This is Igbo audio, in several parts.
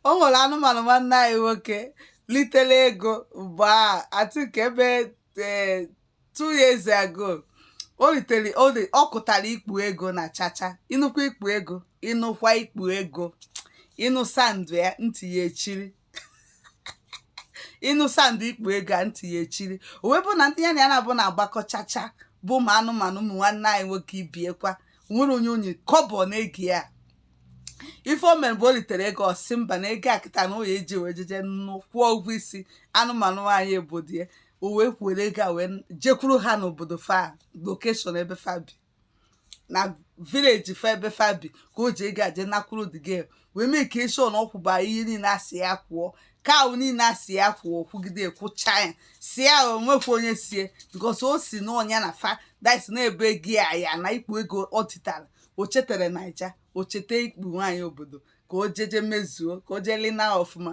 o nwere anụmanụ nwanne anyị nwoke litere ego mgbe a I think ebe eh, two years ago o litere o li- ọ kụtara ikpu ego na chacha ịnụkwa ikpu ego ịnụkwa ikpu ego ịnụ sound ya ntị ya echiri ịnụ sound ikpu ego a ntị ya echiri o wee bụ na ndị ya na ya na-abụ na-agbakọ chacha bụ ụmụ anụmanụ ụmụ nwanne anyị nwoke ibe ya kwa nwere onye o nye kọbọ n'ego ya ife o mere bụ o litere ego ọ sị mba na ego a kịta na ọ ya-eji wee jeje nụ kwụọ ụgwọ isi anụmanụ nwaanyị obodo ya o wee were ego a wee jekwuru ha n'obodo fa location ebe fa bi na village fa ebe fa bi ka o ji ego a je nakwuru the girl wee make sure na ọ kwụba ihe niile a sị ya kwụọ cow niile a sị ya kwụọ kwụgide kwụcha ya si ya o nwekwa onye sie because o si na ọ nya na fa dais na ebe ego ya ya na ikpu ego o titara o chetere naija o cheta ikpu nwaanyị obodo ka o jeje mezuo ka o jee lina ọfụma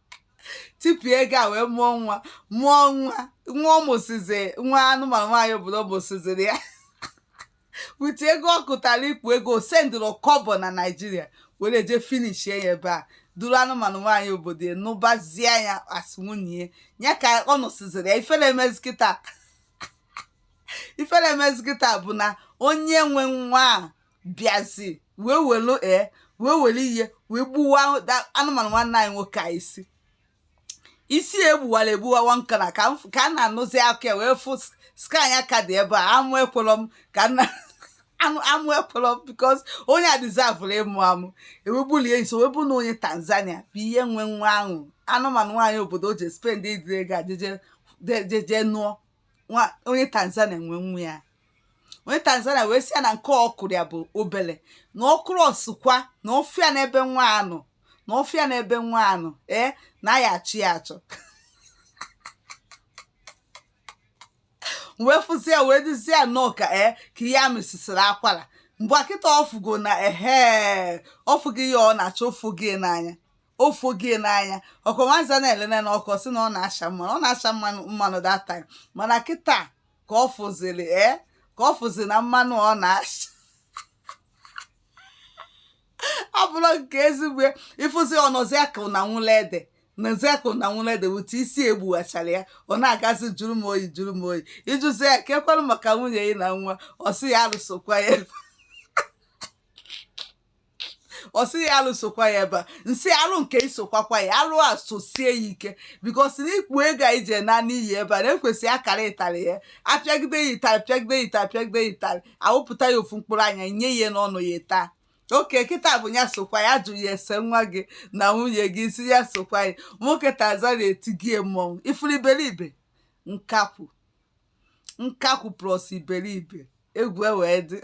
tipịa ego a wee mụọ nwa mụọ nwa nwa ọ mụsizi nwa anụmanụ nwaanyị obodo mụsiziri ya with ego ọ kụtara ikpu ego sendịrọ kọbọ na naijiria were je finish ya ebe a duru anụmanụ nwaanyị obodo ya nụbazie ya as nwunye ya ka ọ nụsiziri ya ifere emezi kịta ifere emezi kịta bụ na onye nwe nwa a bịazi wee welu ee eh, wee were ihe wee gbuwa anụmanụ nwanne anyị nwoke a isi isi ya egbuwara egbuwa one corner ka a na-anụzi aka ya wee fụ scar nya ka dị ebe a amụ ekwelọ m ka amụ ekwelọ m because onye a deservụrụ ịmụ amụ ewegbulie nso wee bụ na onye tanzania bụ ihe nwe nwa ahụ anụmanụ nwaanyị obodo o ji spendịrị ego a jeje nụọ onye tanzania nwe nwa ya onye tanzania wee sị ya na nke ọ kụrụ ya bụ obele na ọ kụrụ ọ sịkwa na ọ fụ ya n'ebe nwa ya nọ na ọ fụ ya n'ebe nwa ya nọ ee na ya achọ ya achọ wee fụzi ya wee duzie ya nnọọ ka ee ka ihe a mesisiri akwara mgbe a kịta ọ fụgo na ehe ọ fụgo ihe ọ na-achọ ọ fụgo ya n'anya ọ fụgo ya n'anya ọ kwa nwanza na-elene na ọkụ ọ sị na ọ na-acha mmanụ ọ na-acha mmanụ mmanụ that time mana kịta ka ọ fụziri e ka ọ fụzi na mmanụ ọ na-acha abụrọ nke ezigbo ị fụzi ọ nọzi akụ na nwụla ede nọzi akụ na nwụla ede with isi e gbuwachara ya ọ na-agazi jụrụ m oyi jụrụ m oyi ị jụzi ya kee kwanụ maka nwunye gị na nwa ọ sị ya alụsokwa ya ọ sị ya alụ sokwa ya ebe a nsị alụ nke isokwakwa ya alụ a sosie ya ike because na ikpo ego anyị ji naa n'iyi ebe a na-ekwesị akara ịtarị ya apịagide ya ịtarị pịagide ya ịtarị pịagide ya ịtarị a wụpụta ya ofu mkpụrụ anya nye ya n'ọnụ ya taa okay kịta bụ ya sokwa ya jụ ya ese nwa gị na nwunye gị si ya sokwa ya nwoke Tanzania etigie mmọnwụ ifuru iberibe nkakwụ nkakwụ plus iberibe egwu e wee dị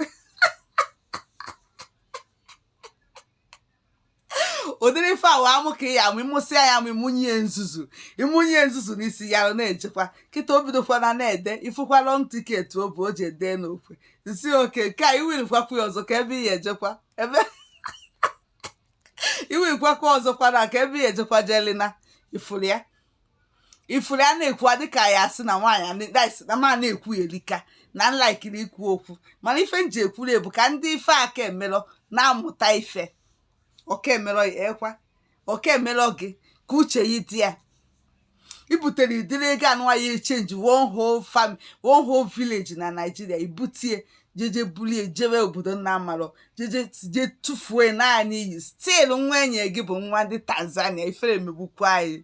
ụdịrị ife awa amụ ka ya amụ ị mụsịa ya amụ ị mụnye nzuzu ị mụnye nzuzu n'isi ya na-ejekwa kịta o bidokwana na-ede ị fụkwa long ticket ọ bụ o ji ede n'okwe nsi okay nke a iwirikwakwu ya ọzọ ka ebe ị ya ejekwa ebe iwirikwakwa ọzọkwa na ka ebe ya ejekwa Jelina ị fụrụ ya ifuru a na-ekwu a dịka ya asị na nwaanyị a na- that's na m na-ekwu erika na m laikiri ikwu okwu mana ife m ji ekwuru ya bụ ka ndị ife a ka emelọ na-amụta ife ọ ka emelọ ya ekwa ọ ka emelọ gị ka uche yi dị ya i butere ụdịrị ego anụwa ya echenji one whole fam one whole village na Nigeria i bute ya jeje bulie jewe obodo ị na-amarọ jeje je tụfuo na n'iyi still nwunye gị bụ nwa ndị Tanzania ifere emegbukwa anyị